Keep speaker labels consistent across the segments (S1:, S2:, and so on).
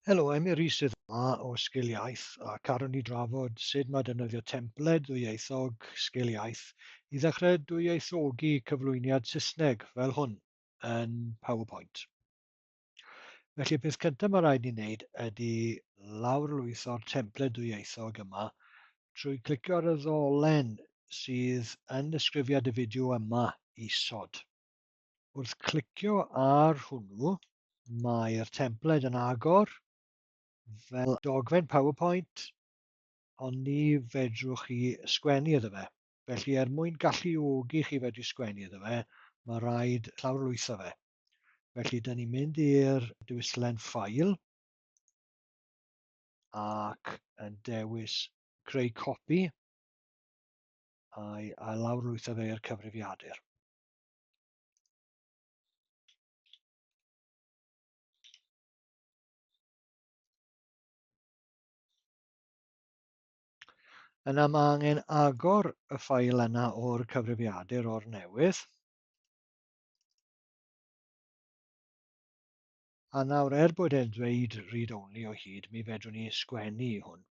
S1: Helo, I'm Iris sydd yma o Sgil Iaith a carwn ni drafod sut mae defnyddio templed ddwyieithog Sgil Iaith i ddechrau dwyieithogi cyflwyniad Saesneg fel hwn yn PowerPoint. Felly, peth cyntaf mae rhaid ni wneud ydy lawrlwytho'r templed ddwyieithog yma trwy clicio ar y ddolen sydd yn ddisgrifiad y fideo yma isod. Wrth clicio ar hwnnw, mae'r templed yn agor fel dogfen PowerPoint, ond ni fedrwch chi sgwennu iddo fe. Felly, er mwyn galluogi chi fedru sgwennu iddo fe, mae rhaid llawrlwytho fe. Felly, dyn ni'n mynd i'r diwyllen ffail ac yn dewis creu copi a'i lawrlwytho fe i'r cyfrifiadur. Yna mae angen agor y ffael yna o'r cyfrifiadur o'r newydd. A nawr, er bod e'n dweud read-only o hyd, mi fedrwn ni sgwennu i hwn.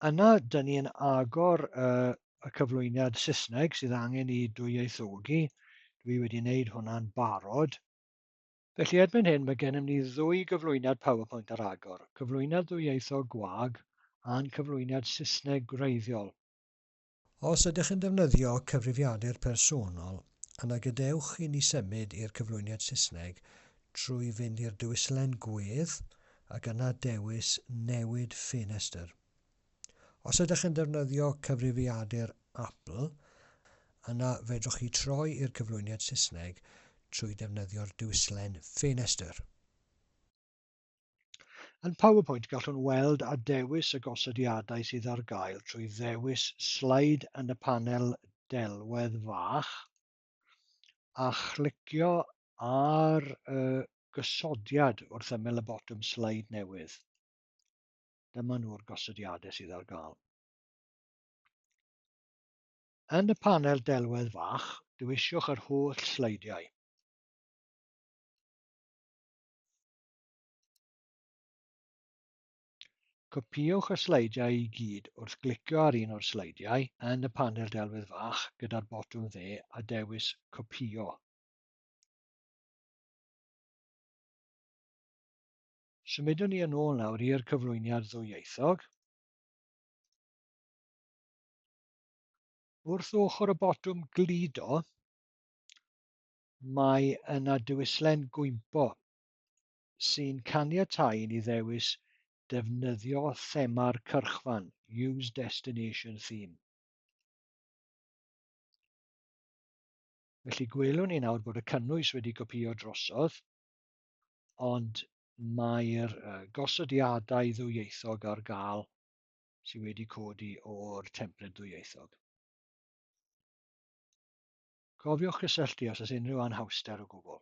S1: Yna, dyn ni yn agor uh, y cyflwyniad Saesneg sydd angen i dwyieithogi. Dwi wedi wneud hwnna'n barod. Felly erbyn hyn mae gennym ni ddwy gyflwyniad PowerPoint ar agor, cyflwyniad ddwyieithog gwag a'n cyflwyniad Saesneg gwreiddiol. Os ydych yn defnyddio cyfrifiadur personol, yna gadewch i ni symud i'r cyflwyniad Saesneg trwy fynd i'r dewislen Gwedd ac yna dewis Newid Ffenestr. Os ydych yn defnyddio cyfrifiadur Apple, yna fedrwch chi troi i'r cyflwyniad Saesneg trwy ddefnyddio'r dewislen Ffenestr. Yn PowerPoint gallwn weld a dewis y gosodiadau sydd ar gael trwy ddewis Slide yn y panel delwedd fach a chlicio ar y gosodiad wrth ymyl y botwm Slide newydd. Dyma nhw'r gosodiadau sydd ar gael. Yn y panel delwedd fach, dewisiwch yr holl sleidiau. Copïwch y sleidiau i gyd wrth glicio ar un o'r sleidiau yn y panel delwedd fach gyda'r botwm dde a dewis Copïo. Symudwn ni yn ôl nawr i'r cyflwyniad ddwyieithog. Wrth ochr y botwm gludo, Mae yna dywyslen gwympo sy'n caniatáu i ni ddewis defnyddio thema'r cyrchfan, Use Destination Theme. Felly gwelwn ni nawr bod y cynnwys wedi gopio drosodd, ond mae'r gosodiadau ddwyieithog ar gael sydd wedi codi o'r templed ddwyieithog. Cofiwch gysylltu os oes unrhyw anhawster o gwbl.